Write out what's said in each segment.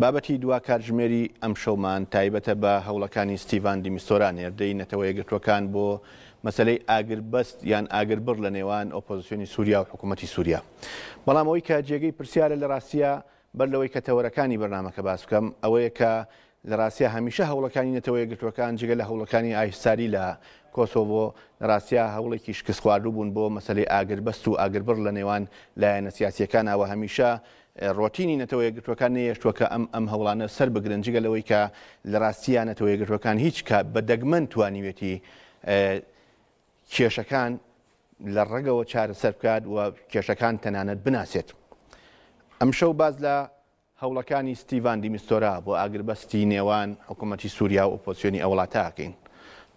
بابەتی دوا کاتژمێری ئەمشەومان تایبەتە بە هەوڵەکانی ستیڤان دیمیستۆرا نێردەی نەتەوە یەکگرتووەکان بۆ مەسەلەی ئاگربەست یان ئاگربڕ لە نێوان ئۆپۆزسیۆنی سووریا و حکوومەتی سووریا. بەڵام ئەوەی کە جێگەی پرسیارە لە راستیا بەر لەوەی کە تەوەرەکانی بەرنامەکە باس بکەم ئەوەیە کە لە راستیا هەمیشە هەوڵەکانی نەتەوە یەکگرتووەکان جگە لە هەوڵەکانی ئایهساری لە کۆسۆڤۆ لە راستیا هەوڵێکی شکستخواردوو بوون بۆ مەسەلەی ئاگربەست و ئاگربڕ لە نێوان لایەنە سیاسییەکانا و هەمیشە ڕۆتینی نەتەوە یەکگرتووەکان نەهێشتووە کە ئەم ئەم هەوڵانە سەر بگرن، جگە لەوەی کە لە ڕاستییا نەتەوە یەکگرتووەکان هیچ کات بە دەگمەن توانیوێتی کێشەکان لە ڕەگەوە چارەسەر بکات و کێشەکان تەنانەت بناسێت. ئەمشەو باس لە هەوڵەکانی ستیڤان دیمیستۆرا بۆ ئاگربەستی نێوان حکوومەتی سووریا و ئۆپۆزسیۆنی ئەو وڵاتە ئەکەین.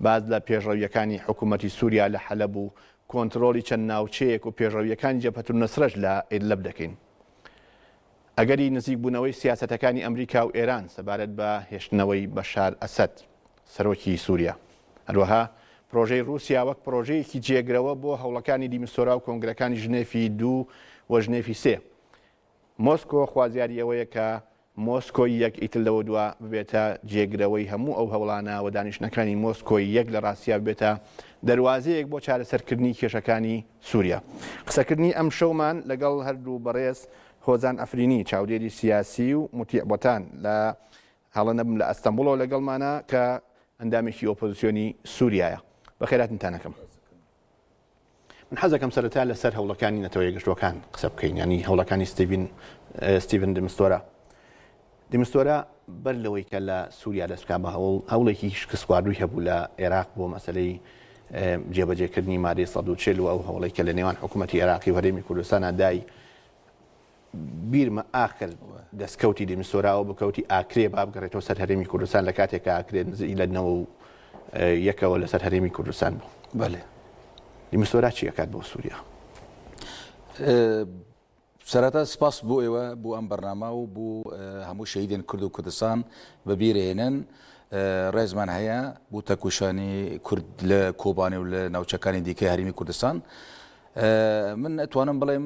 باس لە پێشڕەوییەکانی حکوومەتی سووریا لە حەلەب و کۆنترۆڵی چەند ناوچەیەک و پێشڕەوییەکانی جەبهەت النوسرەش لە ئیدلەب دەکەین. ئەگەری نزیکبوونەوەی سیاسەتەکانی ئەمریکا و ئێران سەبارەت بە هێشتنەوەی بەشار ئەسەد، سەرۆکی سووریا، هەروەها پرۆژەی ڕووسیا وەک پرۆژەیەکی جێگرەوە بۆ هەوڵەکانی دیمستۆرا و کۆنگرەکانی ژنێفی دوو و ژنێفی سێ. مۆسکۆ خوازیاری ئەوەیە کە مۆسکۆی یەک ئیتر لەوەدوا ببێتە جێگرەوەی هەموو ئەو هەوڵانە و دانیشتنەکانی مۆسکۆی یەک لە ڕاستیا ببێتە دەروازەیەک بۆ چارەسەرکردنی کێشەکانی سووریا. قسەکردنی ئەمشەومان لەگەڵ هەردوو بەڕێز هۆزان ئەفرینی چاودێری سیاسی و موتیع بۆتان لە هەڵە نەبم لە ئەستەنبوڵەوە لەگەڵمانە کە ئەندامێکی ئۆپۆزسیۆنی سووریایە بەخێراتنتان ئەکەم. من حەزەکەم سەرەتا لە سەر هەوڵەکانی نەتەوە یەکگرتووەکان قسە بکەین ینی هەوڵەکانی ستیڤین ستیڤن دمستۆرا دمستۆرا بەر لەوەی کە لە سووریا دەست بکە بە هەوڵ هەوڵێکی شکستخواردووی هەبوو لە عێراق بۆ مەسلەی جێبەجێکردنی مادەی 140 و ئەو هەوڵێکە لە نێوان حکوومەتتی عێراقی و هەرێمی کوردستانە دای بیرمە ئاخر دەستکەوتی دیمسۆرا ئەوە بوو کەوتی ئاکرێ با بگەڕێتەوە سەر هەرێمی کوردستان لە کاتێکە ئاکرێ نزیک لە نەوە و اه، یەکەوە لەسەر هەرێمی کوردستان بوو بەلێ دیمسۆرا چی ئەکات بۆ سووریا سەرەتا سپاس بۆ ئێوە بۆ ئەم بەرنامە و بۆ اه، هەموو شەهیدێن کورد و کوردستان بەبیرهێنن اه، ڕێزمان هەیە بۆ تەکوشانی کورد لە کۆبانێ و لە ناوچەکانی دیکەی هەرمی کوردستان اه، من ئەتوانم بڵێم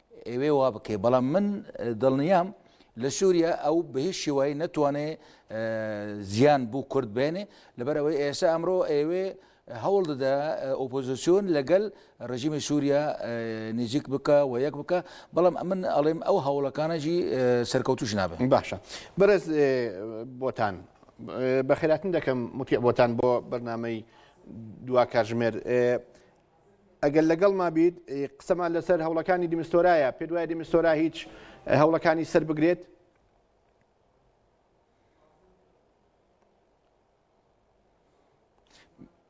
ئەوێ وا بکەی بەڵام من دڵنیام لە سووریا ئەو بە هیچ شێوایی نەتوانێ زیان بوو کورد بێنێ لەبەرەوەی ئێستا ئەمڕۆ ئەوێ هەوڵ دەدا ئۆپۆزیسیۆن لەگەل ڕژیمی سووریا نزیک بکە و یەک بکە بەڵام ئەمن ئەڵێم ئەو هەوڵەکانەجی سەرکەوتوش نابن باشە بەرز بۆتان بەخێراتن دەکەم متی بۆتان بۆ بەرنمەی دوا کاژمێر ئەگەر لەگەڵ ما بیت قسەمان لەسەر هەوڵەکانی دیمستۆرایە پێ دوای دیمستۆرا هیچ هەوڵەکانی سەر بگرێت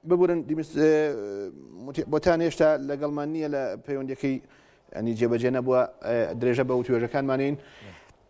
ببورن بۆتان هێشتا لەگەڵمان نییە لە پەیوەندەکەی ئەنی جێبەجێ نەبووە درێژە بە و توێژەکانمانین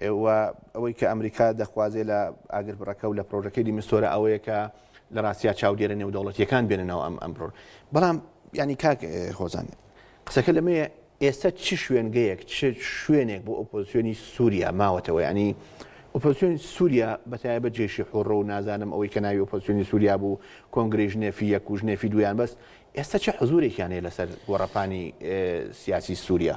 و ئەوەی کە ئەمریکا دەخوازێ لە ئاگربڕەکە و لە پرۆژەکەی دیمستۆرە ئەوەیە کە لە ڕاستیا چاودێرە نێودەوڵەتیەکان بێننەوە ئەم ئەم پرۆژ بەڵام ینی کاک هۆزان قسەکە لەمەیە ئێستا چ شوێنگەیەک چ شوێنێک بۆ ئۆپۆزیۆنی سووریا ماوەتەوە ینی ئۆپۆزیۆنی سووریا بەتایە بە جێشی حڕۆ و نازانم ئەوەی کە ناوی ئۆپۆزیۆنی سووریا بوو کۆنگری ژنێفی یەک و ژنێفی دویان بەس ئێستا چه حزورێکیانەیە لەسەر گۆڕەپانی سیاسی سووریا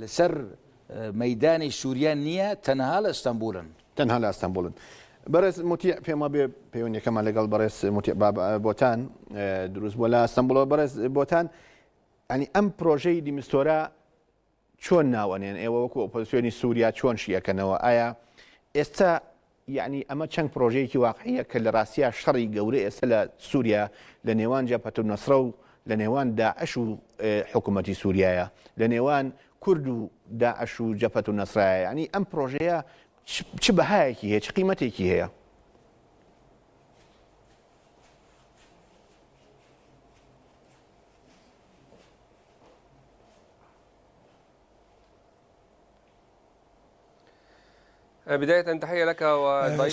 لەسەر مەیدانی سوریا نیە تەنها لە ئەستەنبولن. تەنها لە ئەستەنبولن. بەڕێز موتیع پێم وابێ پەیوەندیەکەمان لەگەڵ بەڕێز موتیع بۆتان دروست بووە لە ئەستەنبولەوە بەڕێز بۆتان ئەنی ئەم پرۆژەی دیمستۆرە چۆن ناوەنێن ئێوە وەکو ئۆپۆزیسیۆنی سووریا چۆن شیەکەنەوە ئایا ئێستا یەعنی ئەمە چەند پرۆژەیەکی واقعیە کە لە راستیا شەڕی گەورە ئێستا لە سوریا لە نێوان جەبهەت النصرە و لە نێوان داعش و حکومەتی سوریایە لە نێوان کورد و داعش و جەبهەت النصرایە یەعنی ئەم پرۆژەیە چ بەهایەکی هەیە چ قیمەتێکی هەیە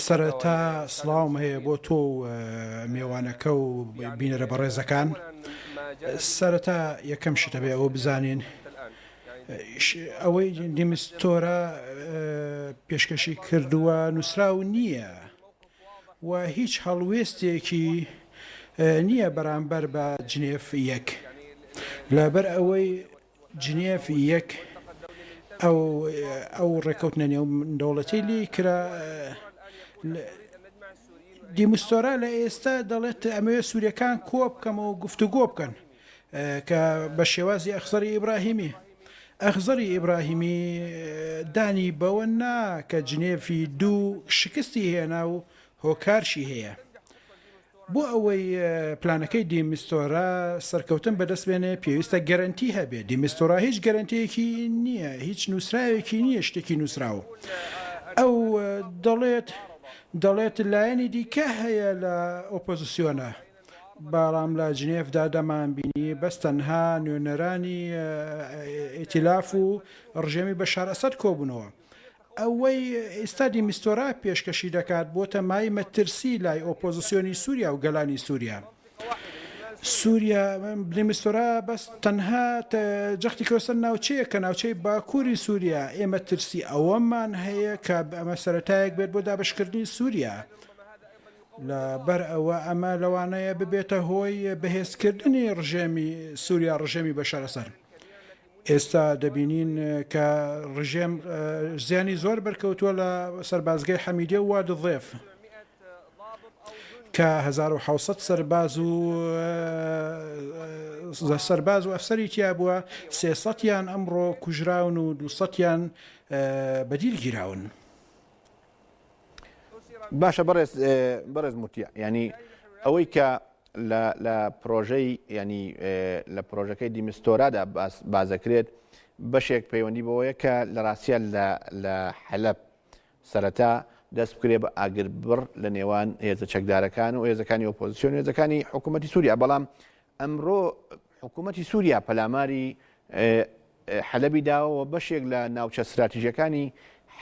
سەرەتا سڵاوم هەیە بۆ تۆ و مێوانەکە و بینەرە بەڕێزەکان سەرەتا یەکەم شتەبێ ئەوە بزانین ئەوەی دیمستۆرە پێشکەشی کردووە نووسراو نییە و هیچ هەڵوێستێکی نییە بەرامبەر بە جنێف یەک لەبەر ئەوەی جنێف یەک ئەو ڕێکەوتنە نێو دەوڵەتی لی کرا دیمستۆرا لە ئێستا دەڵێت ئەمەوێت سوورەکان کۆ بکەمەوە گفتوگۆ بکەن کە بە شێوازی ئەخزەری ئیبراهیمی ئەخزەری ئیبراهیمی دانی بەوە نا کە جنێفی دوو شکستی هێنا و هۆکارشی هەیە بۆ ئەوەی پلانەکەی دیمیستۆرا سەرکەوتن بەدەست بێنێ پێویستە گەرەنتی هەبێ، دیمیستۆرا هیچ گەرەنتیەکی نییە، هیچ نووسراوێکی نییە شتێکی نووسراو. ئەو دەڵێت دەڵێت لایەنی دیکە هەیە لە ئۆپۆزسیۆنە، بەڵام لە جنێڤدا دەمانبینی بەس تەنها نوێنەرانی ئیتیلاف و ڕژێمی بەشار ئەسەد کۆبوونەوە. ئەوەی ئیستا دیمیستۆرا پێشکەشی دەکات بۆتە مای مەترسی لای ئۆپۆزسیۆنی سوریا و گەلانی سوریا. سوریا، دیمیستۆرا بەس تەنها جەختی کردوە سەر ناوچەیەک کە ناوچەی باکوری سوریا، ئێمە ترسی ئەوەمان هەیە کە ئەمە سەرەتایەک بێت بۆ دابەشکردنی سوریا، لە بەر ئەوە ئەمە لەوانەیە ببێتە هۆی بەهێزکردنی ڕژێمی سوریا، ڕژێمی بەشار ئەسەد. ئێستا دەبینین کە ڕژێم زیانی زۆر بەرکەوتووە لە سەربازگەی حەمیدیە و وادی ضێف کە هەزار و حەوت سەد سەرباز و سەرباز و ئەفسەری تیا بووە سێ سەدیان ئەمڕۆ کوژراون و دوو سەدیان بەدیل گیراون. باشە بەڕێز بەڕێز موتیە ینی ئەوەی کە لە پرۆژەی ینی لە پرۆژەکەی دیمستۆرادا بازەکرێت بەشێک پەیوەندی بەوەیە کە لە ڕاستە لە حەلب سەرەتا دەست بکرێ بە ئاگر بڕ لە نێوان هێزە چەکدارەکان و هێزەکانی ئۆپۆزیسیۆن هێزەکانی حکوومەتتی سووریا بەڵام ئەمڕۆ حکوومەتی سووریا پەلاماری حەلەبی داوە و بەشێک لە ناوچە ستراتیژەکانی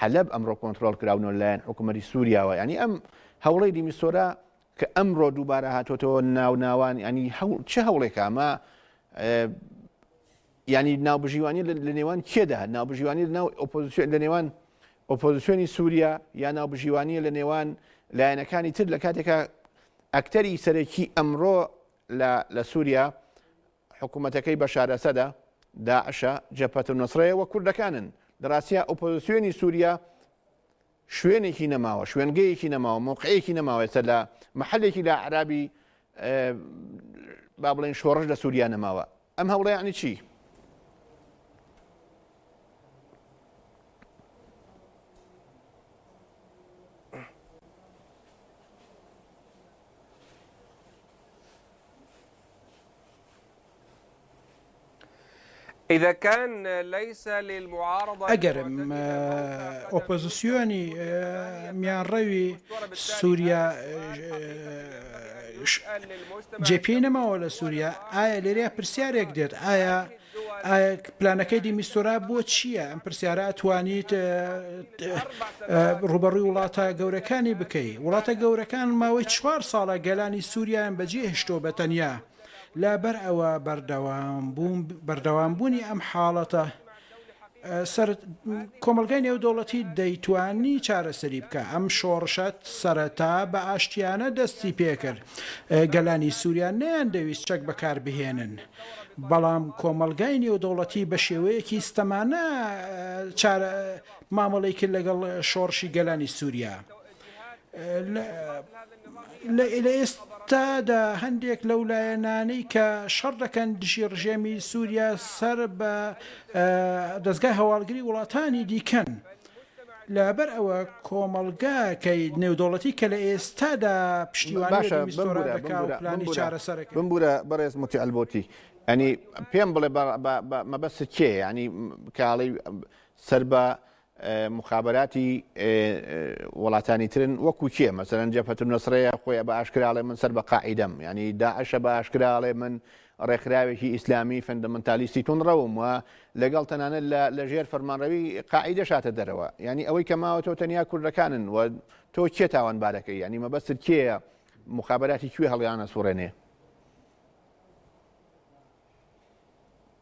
حەلەب ئەمڕۆ کۆنتترۆل کراونەوە لایەن حکوومەتی سووریاوە ینی ئەم هەوڵی دیمیسۆرە کە ئەمڕۆ دووبارە هاتۆتەوە ناو ناوان ینی چ هەوڵێکامە ینی ناوبژیوانی لە نێوان کێدا ناوبژیوانی لە ناو ئۆپۆزیسیۆن لە نێوان ئۆپۆزیسیۆنی سووریا یا ناوبژیوانیە لە نێوان لایەنەکانی تر لە کاتێکە ئەکتەری سەرەکی ئەمڕۆ لە لە سوریا حکومەتەکەی بەشار ئەسەدە، داعشە، جەبهەت النوسرەیە و کوردەکانن. لە راستیا ئۆپۆزسیۆنی سوریا شوێنێکی نەماوە، شوێنگەیەکی نەماوە، مەوقعێکی نەماوە ئێستا لە مەحەلێکی لە ئەعرابی با بڵێین شۆڕش لە سوریا نەماوە. ئەم هەوڵە یەعنی چی؟ ئەگەر ئۆپۆزسیۆنی میانڕەوی سووریا ئەوەش جێ پێی نەماوە لە سوریا ئایا لێرە پرسیارێک دێت ئایا ئایا پلانەکەی دیمیستۆرا بۆ چییە ئەم پرسیارە ئەتوانیت ڕوبەڕوی وڵاتە گەورەکانی بکەی وڵاتە گەورەکان ماوەی چوار ساڵە گەلانی سووریان بەجێ هشتۆ بە تەنیا لابەر ئەوە بەردەوام بووم بەردەوام بوونی ئەم حاڵەتە کۆمەڵگای نێودەوڵەتی دەیتوانی چارەسەری بکا ئەم شۆڕشە سەرەتا بە ئاشتیانە دەستی پێکرد گەلانی سوریا نەیان دەویست چەک بەکاربهێنن بەڵام کۆمەڵگای نێودەوڵەتی بە شێوەیەکی ستەمانە مامەڵەی کرد لەگەڵ شۆڕشی گەلانی سوریا. لە ئێستادا هەندێک لەو لایەنانەی کە شەڕ دەکەن دژی ڕژێمی سووریا سەر بە دەزگای هەواڵگری وڵاتانی دیکەن. لەبەر ئەوە کۆمەڵگاکەی نێودەوڵەتی کە لە ئێستادا پشتیوانی چارەسەر بمبورە بەڕێز متیالبوتی ئەنی پێم بڵێ مەبەست کێ ینی کاڵی سەر بە موخابەراتی وڵاتانی ترن وەکو کێ مەسەرەن جەپەتون نسرەیە خۆی بە ئاشکراڵێ من سەر بە قاعدەم ینی داعشە بە ئاشکراڵێ من ڕێکخراوێکی ئیسلامی فەندەمەنتالیستی تون ڕەوم وە لەگەڵ تەنانە لە ژێر فەرمانڕەوی قاعدە شاتە دەرەوە ینی ئەوەی کە ماوەتەوە تەنیا کوردەکانن و تۆ کێ تاوان بارەکەی ینی مەبەستت کێە مخابراتی کوێ هەڵیانە سوڕێنێ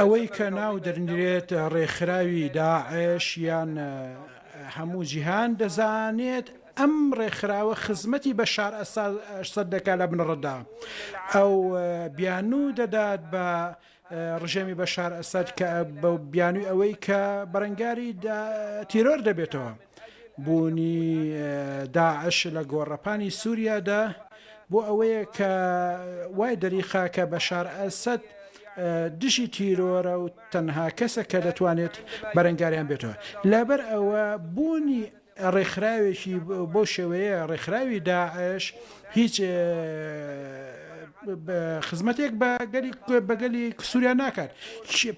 ئەوەی کە ناو درنرێت ڕێکخراوی داعش یان هەموو جیهان دەزانێت ئەم ڕێکخراوە خزمەتی بەشار ئەسەد دەکات لە بنەڕەتدا ئەو بیانوو دەدات بە ڕژێمی بەشار ئەسەد کە بیانووی ئەوەی کە بەرەنگاری تیرۆر دەبێتەوە. بوونی داعش لە گۆڕەپانی سووریادا بۆ ئەوەیە کە وای دەریخا کە بەشار ئەسەد دژی تیرۆرە و تەنها کەسە کە دەتوانێت بەرەنگاریان بێتەوە لەبەر ئەوە بوونی ڕێکخراوێکی بۆ شێوەیە ڕێکخراوی داعش هیچ خزمەتێک بە گەلی بە گەلی سووریا ناکات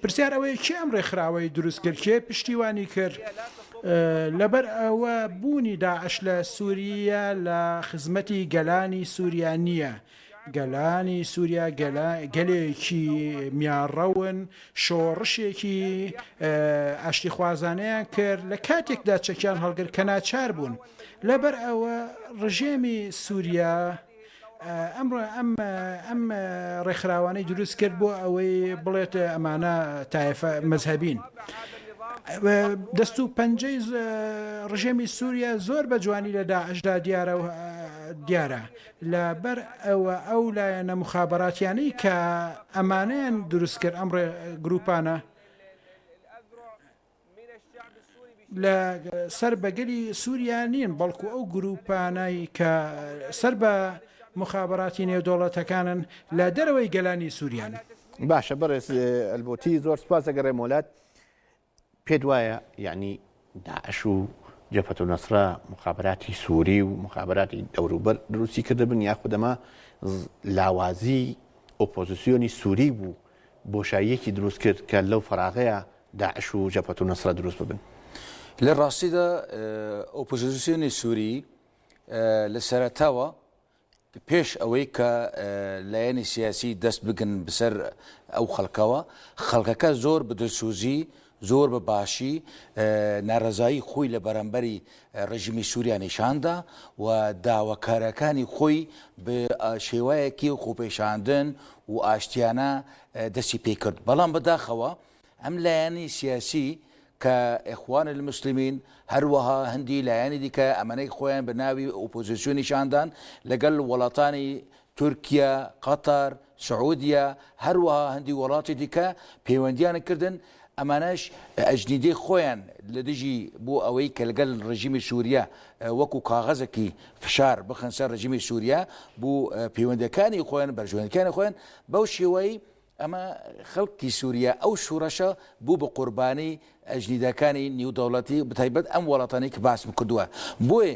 پرسیار ئەوەیە چی ئەم ڕێکخراوەی دروستکرد چێ پشتیوانی کرد لەبەر ئەوە بوونی داعش لە سوورییە لە خزمەتی گەلانی سووریا نییە. گەلانی سووریا گەلێکی میانڕەون شۆڕشێکی ئاشتیخوازانەیان کرد لە کاتێکدا چەکیان هەڵگر کە ناچار بوون. لەبەر ئەوە ڕژێمی سووریا، ئەمڕۆ ئەم ئەم ڕێکخراوانەی دروست کرد بۆ ئەوەی بڵێت ئەمانە تایفە مەذهبین دەست و پەنجەی ڕژێمی سووریا زۆر بە جوانی لە داعشدا دیارە و دیارە لە بەر ئەوە ئەو لایەنە مخابراتیانەی کە ئەمانیان دروست کرد ئەم ڕێ گروپانە لە سەر بە گەلی سوریا نین بەڵکو ئەو گروپانەی کە سەر بە موخابەراتی نێودەوڵەتەکانن لە دەرەوەی گەلانی سوریان. باشە بەڕێز ئەلبۆتی زۆر سپاس دەگەڕێم وەلات پێت وایە یعنی داعش و جەفەت و نەسرە مخابراتی سووری و مخابراتی دەوروبەر دروستی کردبن یاخودەما لاوازی ئۆپۆزیسیۆنی سووری بوو بۆشاییەکی دروست کرد کە لەو فەراغەیا داعش و جەبهەتول نوسرە دروست ببن. لە ڕاستیدا ئۆپۆزیسیۆنی سووری لە سەرەتاوە پێش ئەوەی کە لایەنی سیاسی دەست بگن بەسەر ئەو خەڵکەوە، خەڵکەکە زۆر بە دلسووزی زۆر بە باشی نارەزایی خۆی لە بەرامبەری ڕێژیمی سوریا نیشان دا و داواکارەکانی خۆی بە شێوایەکی خۆپێشاندن و ئاشتیانە دەستی پێ کرد. بەڵام بە داخەوە ئەم لایەنی سیاسی کە ئێخوان المسلمین هەروەها هەندی لایەنی دیکە ئەمەنەی خۆیان بە ناوی ئۆپۆزیسیۆن نیشان دان لەگەڵ وڵاتانی تورکیا، قەتەر، سعودیە، هەروەها هەندی وەڵاتی دیکە پەیوەندیان کردن، ئەمانەش ئەجنیدەی خۆیان لە دژی بۆ ئەوەی کە لەگەل رژیمی سوریە وەکو کاغەزەکی فشار بخەن سەر رژیمی سوریە بو پەیوەندەکانی خۆیان بەرژوەندیەکانی خۆیان بەو شێوەی ئەمە خەلکی سوریە ئەو شورەشە بو بە قوربانی ئەجنیدەکانی نیو دەوڵەتی بەتایبەت ئەم وەڵاتانەی کە باسم کردوە بۆیە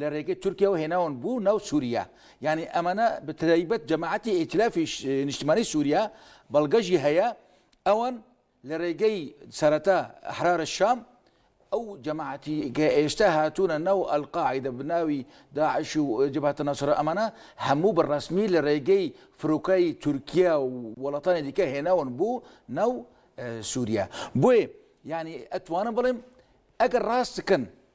لە رێگەی تورکیاوە هێناون بو ناو سوریا یانی ئەمانە بەترایبەت جەماعەتی ئیتلافی نیشتمانی سوریا بەڵگەژی هەیە ئەوان لە رێگەی سەرەتا ئەحرارە شام ئەو جەماعەتی کە ئێستا هاتوونە ناو ئەلقاعدە بناوی داعش و جباتە ناسرە ئەمانە هەموو بە ڕسمی لە رێگەی فرۆکای تورکیا و وڵاتانی دیکە هێناون بوو ناو سووریا بۆیە ینی ئەتوانم بڵێم ئەگەر ڕاستکن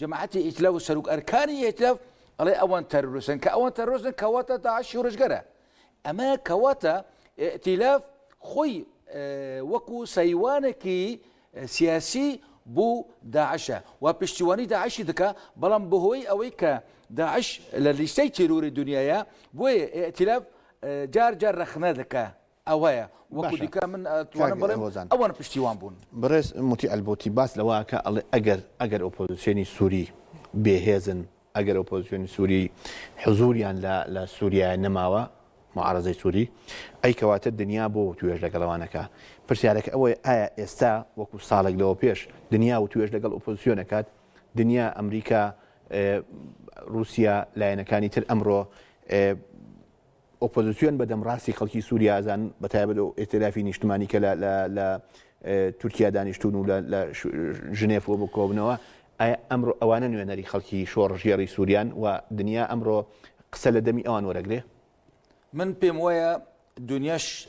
جەماعەتی ئیتلاف و سەروک ئەرکانی ئیتلاف ئەڵێ ئەوان تەرورسن کە ئەوان تەرۆزن کەواتە تا شورشگەرە ئەمە کەواتە ئیتلاف خۆی وەکو سەیوانێکی سیاسی بۆ داعشە و پشتیوانی داعشی دکە بەڵام بەهۆی ئەوەی کە داعش لە لیستەی تیرۆری دنیاە بۆیە ئیتلاف جار جار رەخنە دکە ئەوەیە وەکو دیکە من ئەتوانم بڵێم ئەوان پشتیوان بوون بەڕێز موتی ئەلبوتی باس لەوەکە ئەڵێ ئەگەر ئەگەر ئۆپۆزیسیۆنی سووری بێهێزن ئەگەر ئۆپۆزیسیۆنی سووری حزوریان لە سووریایە نەماوە معارزەی سووری ئەی کەواتە دنیا بۆ توێش لەگەڵەوانەکە پرسیارەکە ئەوەی ئایا ئێستا وەکو ساڵێک لەوە پێش دنیا و توێش لەگەڵ ئۆپۆزیسیۆنەکات دنیا ئەمریکا رووسیا لایەنەکانی تر ئەمڕۆ ئۆپۆزسیۆن بە دەمڕاستی خەڵکی سووریا ئەزانن، بەتایبەت ئەو ئیتیلافی نیشتمانی کە لە تورکیا دانیشتوون و لە ژنێف بۆ بکۆبنەوە، ئایا ئەمڕۆ ئەوانە نوێنەری خەڵکی شۆڕشگێڕی سووریان و دنیا ئەمڕۆ قسە لە دەمی ئەوان وەرەگرێ؟ من پێم وایە دنیاش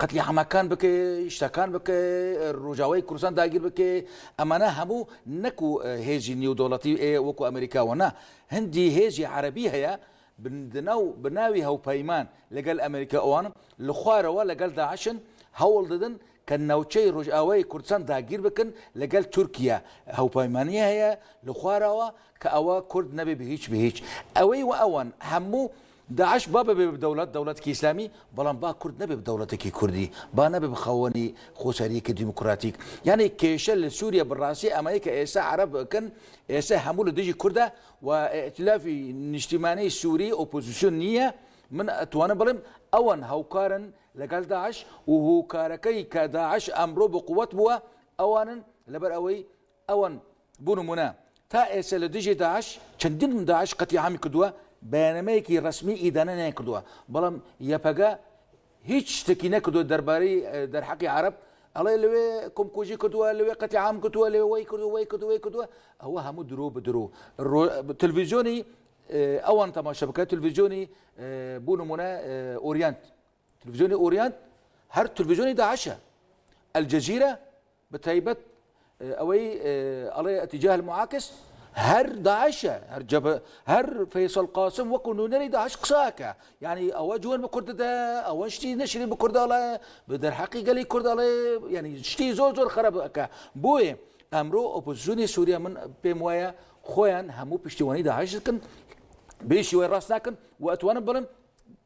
قەتلی عامەکان بکەی شتەکان بکەی ڕوژاوای کوردستان داگیر بکەی ئەمانە هەموو نەکو هێزی نیودوڵەتی وەکو ئەمریکاوە نا هەندی هێزی عربی هەیە بندنا و بناوی هەوپەیمان لەگەل ئەمریکا ئەوان لە خوارەوە لەگەل داعشن هەوڵ دەدن کە ناوچەی ڕۆژئاوای کوردستان داگیر بکن لەگەل تورکیا هەوپەیمانی هەیە لە خوارەوە کە ئەوە کورد نەبێ بە هیچ بە هیچ ئەوەی وە ئەوان هەموو داعش با ببێ بە دەوڵەت، دەوڵەتێکی ئیسلامی، بەڵام با کورد نەبێ بە دەوڵەتێکی کوردی، با نەبێ بە خاوەنی خۆسەرییەکی دیموکراتیک. یانی کێشە لە سووریە بە ڕاستی ئەمەیە کە ئێستا عەرەب ئەکەن، ئێستا هەموو لە دژی کوردە و ئیتیلافی نیشتیمانی سووری ئۆپۆزیسیۆن نییە، من ئەتوانم بڵێم ئەوان هاوکارن لەگەڵ داعش و هۆکارەکەی کە داعش ئەمڕۆ بە قووەت بووە ئەوانن لەبەر ئەوەی ئەوان بۆ نموونە تا ئێستا لە دژی داعش چەندین داعش قەتلیعامی کردووە، بەیاننامەیەکی رەسمی ئیدانە نەیانکردووە، بەڵام یەپەگە هیچ شتێکی نەکردووە دەربارەی دەرحەقی عەرەب، ئەڵێ لەوێ کۆمکوژی کردووە، لەوێ قەتلیعام کردووە، لەوێ وەی کردووە، وەی کردووە، وەی کردووە، ئەوە هەموو درۆ بە درۆ. تەلەفیزیۆنی ئەوان تەماشا بکە، تەلەفیزیۆنی بۆ نموونە ئۆریانت، تەلەفیزیۆنی ئۆریانت هەر تەلەفیزیۆنی داعشە، ئەلجەزیرە، بەتایبەت ئەوەی ئەڵێ ئەتیجاه المعاکس هەر داعشە هەر جەبە هەر فەیسەڵ قاسم وەکو نوێنەری داعش قساکە یعنی ئەوە جوێن بە کورددا ئەوە شتی نەشری بە کورداڵە بە دەرحەقی گەلی کورداڵێ ینی شتی زۆر زۆر خراپەکە بۆیە ئەمرۆ ئۆپۆزیسیۆنی سووریا من پێم وایە خۆیان هەموو پشتیوانی داعش دەکەن بێشی وای ڕاست ناکەن و ئەتوانم بڵم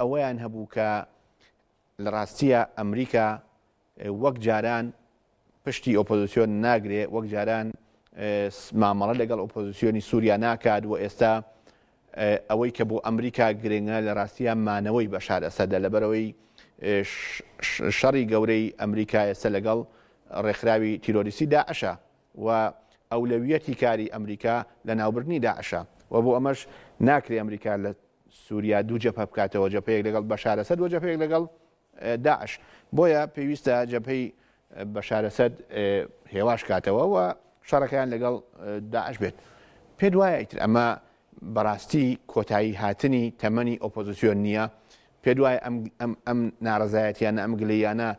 ئەوەیان هەبوو کە لە ڕاستییە ئەمریکا وەک جاران پشتی ئۆپۆزیسیۆن ناگرێ وەک جاران مامەڵە لەگەڵ ئۆپۆزیسیۆنی سووریا ناکات و ئێستا ئەوەی کە بۆ ئەمریکا گرنگە لە ڕاستیان مانەوەی بەشار ئەسەدە لەبەرەوەی شەڕی گەورەی ئەمریکا ئێستا لەگەڵ ڕێکخراوی تیرۆریستی داعشە و ئەولەویەتی کاری ئەمریکا لە ناوبردنی داعشە و بۆ ئەمەش ناکرێ ئەمریکا لە سوریا دوو جەبهە بکاتەوە جەبهەیەک لەگەڵ بەشار ئەسەد و جەبهەیەک لەگەڵ داعش بۆیە پێویستە جەبهەی بەشار ئەسەد هێواش کاتەوە و شەڕەکەیان لەگەڵ داعش بێت پێت وایە ئیتر ئەمە بەڕاستی کۆتایی هاتنی تەمەنی ئۆپۆزیسیۆن نییە پێت وایە ئەم ناڕزایەتیانە ئەم گلیانە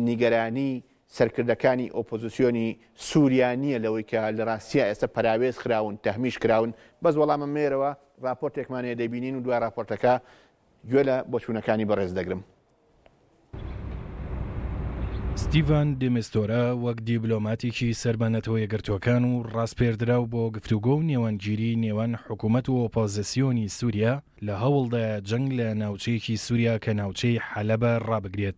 نیگەرانی سەرکردەکانی ئۆپۆزسیۆنی سوریا نیە لەوەی کە لە راستیا ئێستا پەراوێز خراون تەهمیش کراون بەس وەڵامم نێرەوە راپۆرتێکمان هەیە دەیبینین و دوای راپۆرتەکە گوێ لە بۆچونەکانی بەڕێز دەگرم. ستیڤان دی میستورا وەک دیبلۆماتێکی سەر بە نەتەوە یەکگرتووەکان و ڕاسپێردراو بۆ گفتوگۆ و نێوانگیری نێوان حکومەت و ئۆپۆزسیۆنی سوریا لە هەوڵدایە جەنگ لە ناوچەیەکی سوریا کە ناوچەی حەلەبە ڕابگرێت.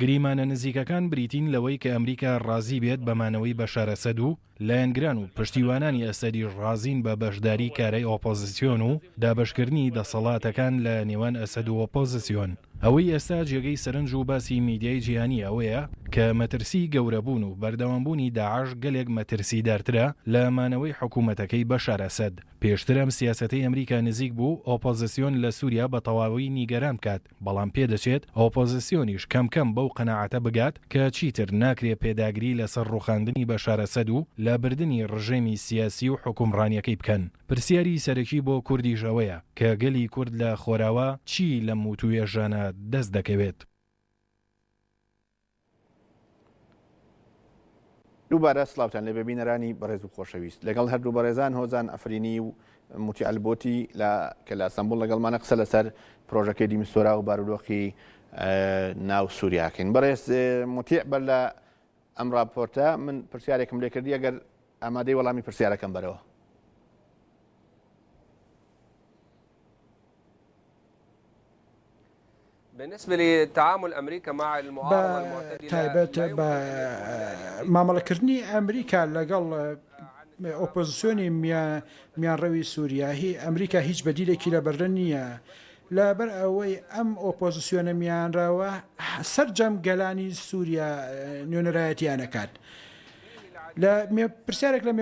گریمانە نزیکەکان بریتین لەوەی کە ئەمریکا ڕازی بێت بە مانەوەی بەشار ئەسەد و لایەنگران و پشتیوانانی ئەسەدیش ڕازین بە بەشداری کارای ئۆپۆزسیۆن و دابەشکردنی دەسەڵاتەکان لە نێوان ئەسەد و ئۆپۆزسیۆن. ئەوەی ئێستا جێگەی سەرنج و باسی میدیای جیهانی ئەوەیە کە مەترسی گەورەبوون و بەردەوامبوونی داعش گەلێک مەترسیدارترە لە مانەوەی حکومەتەکەی بەشار ئەسەد. پێشتر ئەم سیاسەتەی ئەمریکا نزیک بوو ئۆپۆزسیۆن لە سوریا بە تەواوی نیگەران بکات، بەڵام پێدەچێت ئۆپۆزسیۆنیش کەم کەم بەو قەناعەتە بگات کە چیتر ناکرێ پێداگری لە سەر ڕوخاندنی بەشار ئەسەد و لە بردنی ڕژێمی سیاسی و حوکمڕانیەکەی بکەن. پرسیاری سەرەکی بۆ کوردیش ئەوەیە کە گەلی کورد لە خۆراوا چی لەم وتوێژانە دەست دەکەوێت؟ دووبارە سلاوتان لێبێ بینەرانی بەڕێز و خۆشەویست لەگەڵ هەردوو بەڕێزان هۆزان ئەفرینی و موتی ئەلبۆتی لە کە لە سمبول لەگەڵمانە قسە لەسەر پرۆژەکەی دیمسۆرا و بارودۆخی ناو سووریاکەین بەڕێز متیع بەر لە ئەم راپۆرتە من پرسیارێکم لێکردی ئەگەر ئامادەی وەڵامی پرسیارەکەم بەرەوە بە تایبەت بە مامەڵەکردنی ئەمریکا لەگەڵ ئۆپۆزسیۆنی میانڕەوی سوریا هی ئەمریکا هیچ بەدیلێکی لە بەردە نییە لەبەر ئەوەی ئەم ئۆپۆزسیۆنە میانراوە سەرجەم گەلانی سوریا نوێنەرایەتیان ئەکات. پرسیارێک لە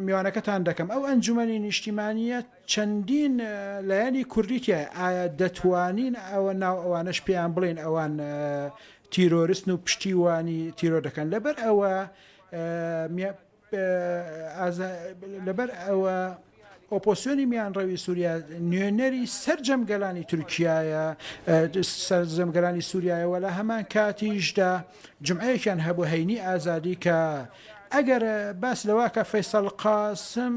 میوانەکەتان دەکەم، ئەو ئەنجومەنی نیشتیمانییە، چەندین لایەنی کوردی تیایە، ئایا دەتوانین ئەوە ناو ئەوانەش پێیان بڵێین ئەوان تیرۆرستن و پشتیوانی تیرۆر دەکەن لەبەر ئەوە لەبەر ئەوە ئۆپۆسیۆنی میانڕەوی سووریا نوێنەری سرجەم گەلانی تورکایە سرجەم گەلانی سووریایەوە لە هەمان کاتیشدا جمعەیەکیان هەبوو هەینی ئازادی کە ئەگەر باس لەوە کە فەیسەڵ قاسم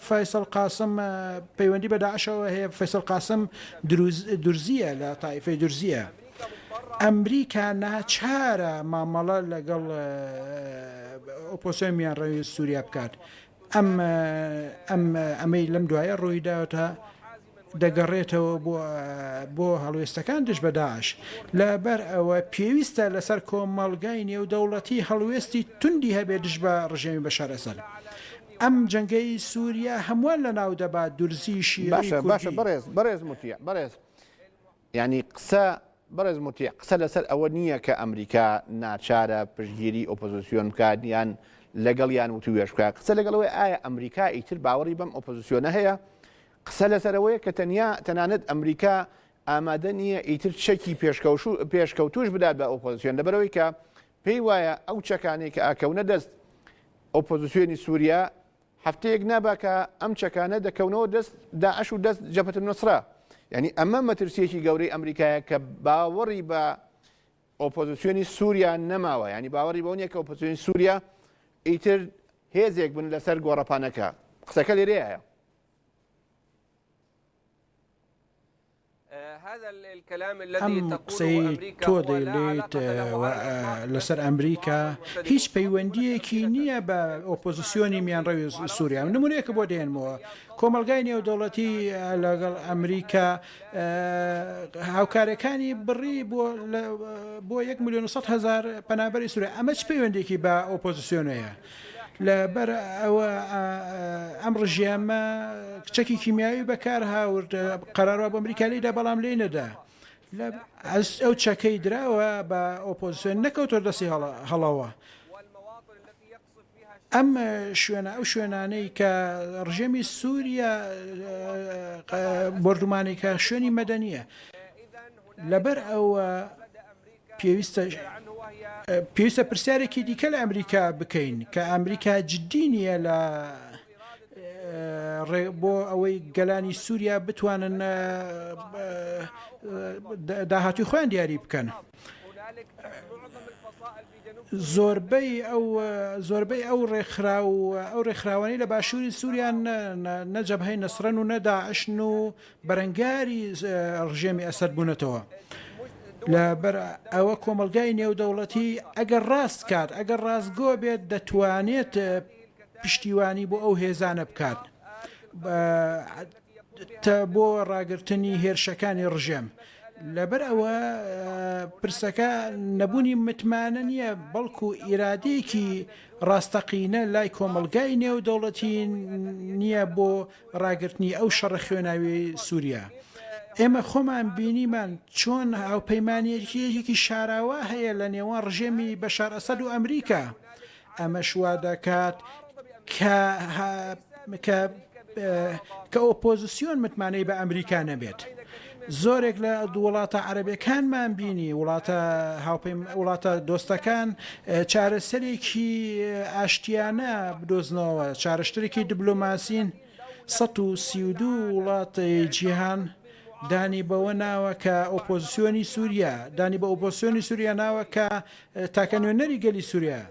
فەیسەڵ قاسم پەیوەندی بە داعشەوە هەیە، فەیسەڵ قاسم دروز درزییە لە تائیفەی درزییە. ئەمریکا ناچارە مامەڵە لەگەڵ ئۆپۆسیۆنی میانڕەوی سووریا بکات. ئەم ئەم ئەمەی لەم دوایە ڕووی داوەتە. دەگەڕێتەوە بۆ بۆ هەڵوێستەکان دژ بە داعش، لەبەر ئەوە پێویستە لەسەر کۆمەڵگای نێودەوڵەتی هەڵوێستی توندی هەبێت دژ بە ڕژێمی بەشار ئەسەد. ئەم جەنگەی سوریا هەمووان لەناو دەبات دورزی شیعی کوردی. باشە باشە بەڕێز بەڕێز موتیع بەڕێز یانی قسە بەڕێز موتیع قسە لەسەر ئەوە نییە کە ئەمریکا ناچارە پشتگیری ئۆپۆزسیۆن بکات یان لەگەڵ یان وتووێژ بکات قسە لەگەڵەوەی ئایا ئەمریکا ئیتر باوەڕی بەم ئۆپۆزسیۆنە هەیە قسە لەسەر ئەوەیە کە تەنیا تەنانەت ئەمریکا ئامادە نییە ئیتر چەکی پێشکەوتووش بدات بە ئۆپۆزسیۆن، لەبەرئەوەی کە پێی وایە ئەو چەکانەی کە ئەکەونە دەست ئۆپۆزسیۆنی سووریا، هەفتەیەک نابا کە ئەم چەکانە دەکەونەوە دەست داعش و دەست جەبهەت النوسرە. یانی ئەمە مەترسییەکی گەورەی ئەمریکایە کە باوەڕی بە ئۆپۆزسیۆنی سووریا نەماوە، یانی باوەڕی بەوە نییە کە ئۆپۆزسیۆنی سووریا ئیتر هێزێک بن لەسەر گۆڕەپانەکە. قسەکە لێرەیە. ئەم قسەی تۆ دەیڵێیت لەسەر ئەمریکا هیچ پەیوەندیەکی نییە بە ئۆپۆزیسیۆنی میانڕەوی سووریا و نمونەیەکە بۆ دێنمەوە کۆمەلگای نێودەوڵەتی لەگەڵ ئەمریکا هاوکارەکانی بڕی بۆ بۆ 1 میلیۆن هزار پەنابەری سوورە ئەمە چ پەیوەندێکی بە ئۆپۆزیسیۆنەیە لە بەر ئەوە ئەم ڕژێمە چەکی کیمیاوی بەکار هاورد قەراروا بۆ ئەمریکا لێی دا بەڵام لێی نەدا لە ئەس ئەو چەکەی دراوە بە ئۆپۆزیسیۆن نەکەوتۆ دەستی هەڵە هەڵەوە ئەم شوێنە ئەو شوێنانەی کە ڕژێمی سووریا بردومانێکە شوێنی مەدەنیە لەبەر ئەوە پێویستە پێویستە پرسیارێکی دیکە لە ئەمریکا بکەین کە ئەمریکا جددی نییە لە ڕێ بۆ ئەوەی گەلانی سووریا بتوانن داهاتوی خۆیان دیاری بکەن. زۆربەی ئەو زۆربەی ئەو ڕێکخرا و ئەو ڕێکخراوانی لە باشووری سووریان نەجەبهی نەسرەن و نەداعشن و بەرەنگاری ڕژێمی ئەسەد بوونەتەوە لە بەر ئەوە کۆمەلگای نێودەوڵەتی ئەگەر ڕاست کات ئەگەر ڕاستگۆ بێت دەتوانێت پشتیوانی بۆ ئەو هێزانە بکات بۆ ڕاگررتنی هێرشەکانی ڕژێم لەبەر ئەوە پرسەکە نەبوونی متمانە نییە بەڵکو ئیرادەیەکی ڕاستەقینە لای کۆمەلگای نێو دەوڵەتی نییە بۆ ڕاگرتنی ئەو شەڕە خوێناویەی سوریا ئێمە خۆمان بینیمان چۆن هاوپەیمانێتیەکی شاراوە هەیە لە نێوان ڕژێمی بەشار ئەسەد و ئەمریکا ئەمەش وا دەکات کە کە ئۆپۆزیسیۆن متمانەی بە ئەمریکا نەبێت زۆرێک لە وڵاتە عەرەبیەکانمان بینی وڵاتە هاوپەیم وڵاتە دۆستەکان چارەسەرێکی ئاشتیانە بدۆزنەوە چارشترێکی دبلۆماسین 132 وڵاتە جیهان دانی بەوە ناوە کە ئۆپۆزیسیۆنی سووریا دانی بە ئۆپۆسیۆنی سووریا ناوە کە تاکە نوێنەری گەلی سووریا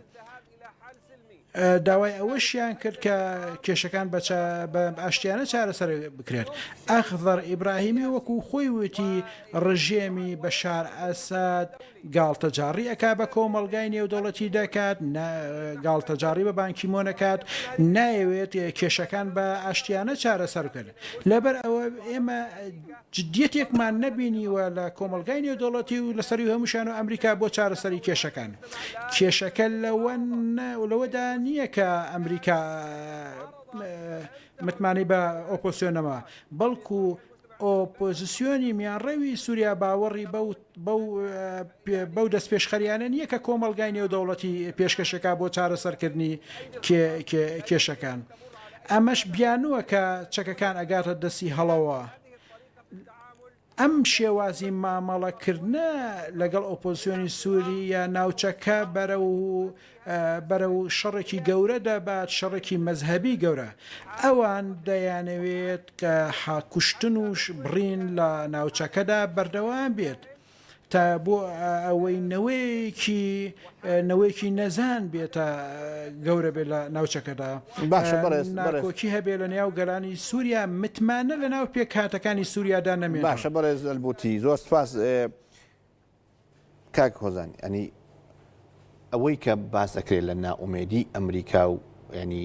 داوای ئەوەشیان کرد کە کێشەکان بە ئاشتیانە چارەسەر بکرێت. ئەخزەر ئیبراهیمی وەکو خۆی وتی ڕژێمی بەشار ئەسەد گاڵتەجاڕی ئەکا بە کۆمەڵگای نێودەوڵەتی دەکات، گاڵتەجاڕی بە بان کی مۆن ئەکات، نایەوێت کێشەکان بە ئاشتیانە چارەسەر بکرێت. لەبەرئەوە ئێمە. جدیەتێکمان نەبینیوە لە کۆمەڵگای نێودەوڵەتی و لە سەروی هەمووشیان و ئەمریکا بۆ چارەسەری کێشەکان. کێشەکە لەوەدا نییە کە ئەمریکا متمانەی بە ئۆپۆسیۆنەوە، بەڵکو ئۆپۆزسیۆنی میانڕەوی سوریا باوەڕی بەو بەو دەستپێشخەرییانە نییە کە کۆمەڵگای نێودەوڵەتی پێشکەشەکا بۆ چارەسەرکردنی کێشەکان. ئەمەش بیانووە کە چەکەکان ئەگاتە دەستی هەڵەوە. ئەم شێوازی مامەڵەکردنە لەگەڵ ئۆپۆزسیۆنی سووری یا ناوچەکە بەرە و بەرەو شەڕێکی گەورە دەبات شەڕێکی مەزهەبی گەورە ئەوان دەیانەوێت کە حاکوشتن و بڕین لە ناوچەکەدا بەردەوام بێت تا بۆ ئەوەی نەوەیەکی نەوەیەکی نەزان بێتە گەورە بێت لە ناوچەکەدا باشە بەڕێز ناکۆکی هەبێ لە نێو گەلانی سووریا متمانە لە ناو پێکهاتەکانی سووریادا نەمێ باشە بەڕێز ئەلبوتی زۆر سپاس کاک هۆزان ئەنی ئەوەی کە باس دەکرێت لە ناومێدی ئەمریکا و ینی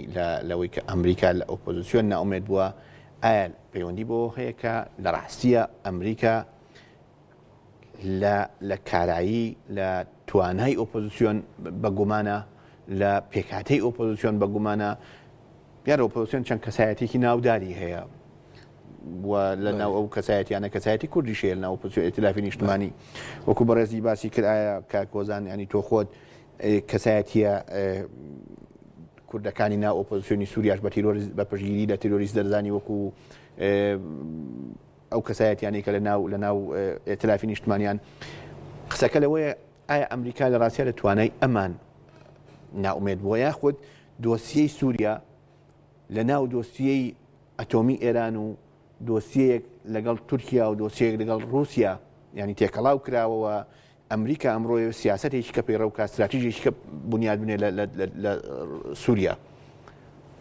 لەوەی کە ئەمریکا لە ئۆپۆزیسیۆن ناومێت بووە ئایا پەیوەندی بۆ هەیە کە لە ڕاستیە ئەمریکا لە کارایی لە توانای ئۆپۆزیسیۆن بە گومانە لە پێکاتەی ئۆپۆزیسیۆن بە گومانە دیارۆپۆسیۆن چەند کەسایەتێکی ناوداری هەیە و لە ناو ئەو کەسایەتیانە کەسایەتی کوردیش هەیە لەناو ئۆپۆزسیۆن ئیتلافی نیشتمانی وەکو بەڕێزی باسی کرد ئایا کاک هۆزان ینی تۆ خۆت ئێ، کەسایەتیە ئێ، کوردەکانی ناو ئۆپۆزسیۆنی سووریاش بە تیرۆریست بە پشتگیری لە تیرۆریست دەرزانی وەکو ئێ، ئەو کەسایەتیانەی کە لە ناو لە ناو ئێ، ئیتلافی نیشتمانیان قسەکە لەوەیە ئایا ئەمریکا لە ڕاستیا لە توانای ئەمان نائومێد بووە یاخود دۆسیەی سووریا لە ناو دۆسیەی ئەتۆمی ئێران و دۆسیەیەک لەگەڵ تورکیا و دۆسیەیەک لەگەڵ ڕووسیا یانی تێکەڵاو کراوە و ئەمریکا ئەمڕۆ سیاسەتێکی کە پەیڕەو بکات ستراتیژێکی کە بنیاد بنێ لە سووریا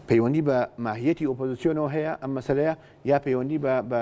پەیوەندی بە ماهیەتی ئۆپۆزیسیۆنەوە هەیە ئەم مەسەلەیە یا پەیوەندی بە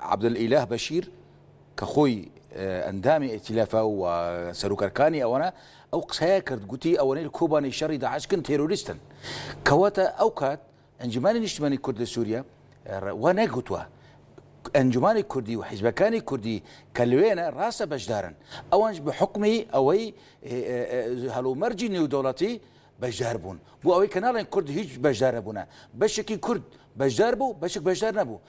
عەبدولئیلاه بەشیر کە خۆی ئەندامی ئیتیلافە و سەروک ئەرکانی ئەوەنە ئەو قسەیە کرد گوتی ئەوەنەی لە کۆبانی شەڕی داعشکن تێرۆریستن کەواتە ئەو کات ئەنجومانی نیشتمانی کورد لە سووریا وا نەگوتوە ئەنجومانی کوردی و حیزبەکانی کوردی کە لەوێنە ڕاستە بەشدارن ئەوانش بە حکمی ئەوەی هەڵومەرجی نێودەوڵەتی بەشدار بوون بۆ ئەوەی کە ناڵێن کورد هیچ بەشدار نەبوونە بەشێکی کورد بەشدار بوو بەشک بەشدار نەبوو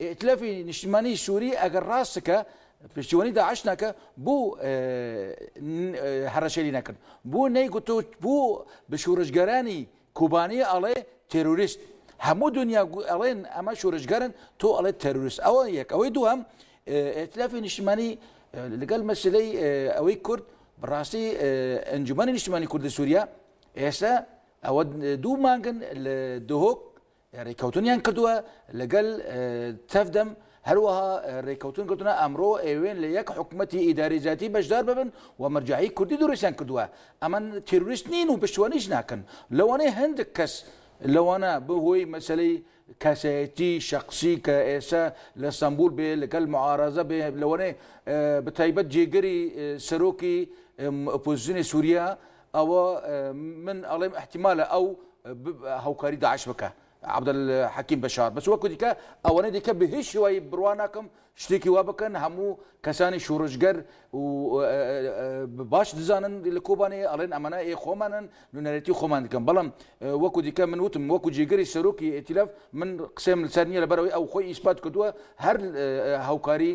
ئیتلافی نیشتمانی سوری ئەگەر ڕاست کە پشتیوانی داعش ناکە بۆ هەڕەشەری نەکرد بۆ نەیگوتۆ بۆ بە شورشگەرانی کوبانی ئەڵێ تێروریست هەموو دنیا ئەڵێن ئەمە شورشگەرن تۆ ئەڵێ تەروریست ئەوە یەک ئەوەی دووەم ئەتلافی نیشتمانی لەگەل مەسلەی ئەوەی کورد بڕاستی ئەنجومانی نیشتمانی کوردی سووریا ئێستا ئەوە دوو مانگن لە دهۆک رێکەوتنیان کردووە لەگەل تف دەم، هەروەها رێکەوتن کردوونە ئەمرۆ ئەیەوێن لە یەک حکومەتی ئیداری جیاتی بەشدار ببن و مەرجەعی کوردی دروستیان کردووە، ئەمە تیرۆریست نین و پشتوانیش ناکەن، لەوانەیە هەندێک کەس لەوانە بەهۆی مەسەلەی کەسایەتی شەخسی کە ئێستا لە ستەنبول بێ لەگەل معارەزە بێ لەوانەیە بەتایبەت جێگری سەرۆکی ئۆپۆزسیۆنی سوریا ئەوە من ئەڵێم احتیمالە ئەو هاوکاری داعش بکە عبدل حەکیم بەشار بەس وەکو دیکە ئەوەنە دیکە بە هیچ شێوایی بڕوا ناکەم شتێکی وا بکەن هەموو کەسانی شوڕژگەر باش دزانن لە کۆبانێ ئەڵێن ئەمەە ئێ خۆمانن نونەرەتی خۆمان دکەم بەڵام وەکو دیکە من وتم وەکو جێگەری سەرۆکی ئتیلف من قسەم لەسەر نیە لەبەرەوەی ئەو خۆی ئیسپات کردووە هەر هاوکاری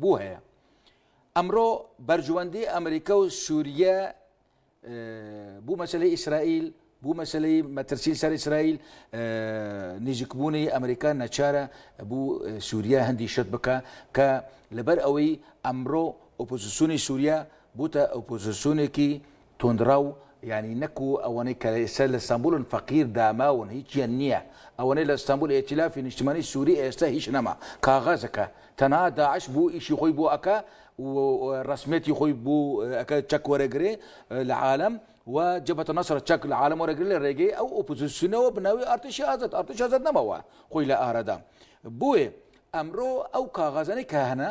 بوو هەیە. ئەمرۆ بەرژوەندی ئەمریکا و سوریە بو مەسەلەی ئیسرائیل، بو مەسەلەی مەترسین سەر ئیسرائیل، نیزیک بونی ئەمریکا نەچارە بو سوریە هەندی شت بکا کە لەبەر ئەوەی ئەمرۆ ئۆپۆزسیونی سوریە بوتە ئۆپۆزسیونێکی توندڕەو یانی نەکو ئەوەنەی کە ئێستا لە ستانبولن فەقیر داماون هیچیان نیە ئەوەنەی لە ستانبول ئێتیلافی نیشتمانی سوری ئێستا هیچ نەما کاغەزەکە تەنها داعش بو ئیشی خۆی بو ئەکا و ڕەسمیەتی خۆی بو ئەکا چەک وەرەگرێ لە عالەم و جەبهەتە نەسرە چەک لە عالەم وەرەگرێ لە ڕێگەی ئەو ئۆپۆزسیونەوە بە ناوی ئەرتشی ئازاد ئەرتش ئازاد نەماوە خۆی لە ئارادام بویێ ئەمرۆ ئەو کاغەزەنەی کە هەنە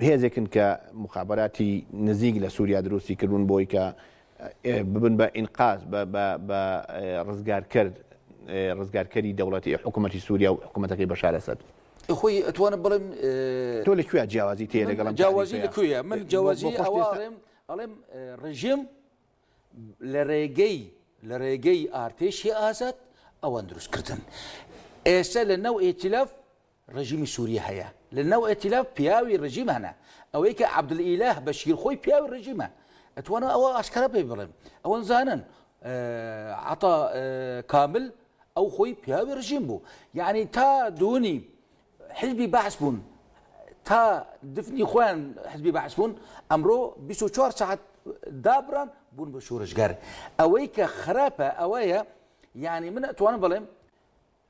هێزێکن کە موخابەراتی نزیک لە سوریا دروستی کردوون بۆی کە ببن بە ئینقاز بە ڕزگارکرد ڕزگارکەری دەوڵەتی حکوومەتی سووریا و حکوومەتەکەی بەشار ئەسەد خۆی ئەتوانە بڵێم تۆ لە کوێ جیاوازی تێ لەگەڵم جیاوازی لە کوێ من جیاوازی ئەڵێم ئەڵێم ڕژێم لە ڕێگەی لە ڕێگەی ئارتێشی ئازاد ئەوان دروستکردن ئێستا لە ناو ئێتیلاف ڕژیمی سوریە هەیە لە ناو ئێتیلاف پیاوی ڕژیم هەنە ئەوەی کە عەبدل ئیلاه بەشیر خۆی پیاوی ڕژیمە ئەتوانم ئەوە ئاشکرا پێی بڵێم ئەوەن زانن عطا کامل ئەو خۆی پیاوی ڕژیم بوو یعنی تا دوونی حزبی بەعس بوون تا دفنی خۆیان حزبی بەعس بوون ئەمڕۆ 24 ساعت دابران بوون بە شورشگەر ئەوەی کە خراپە ئەوەیە یعنی من ئەتوانم بڵێم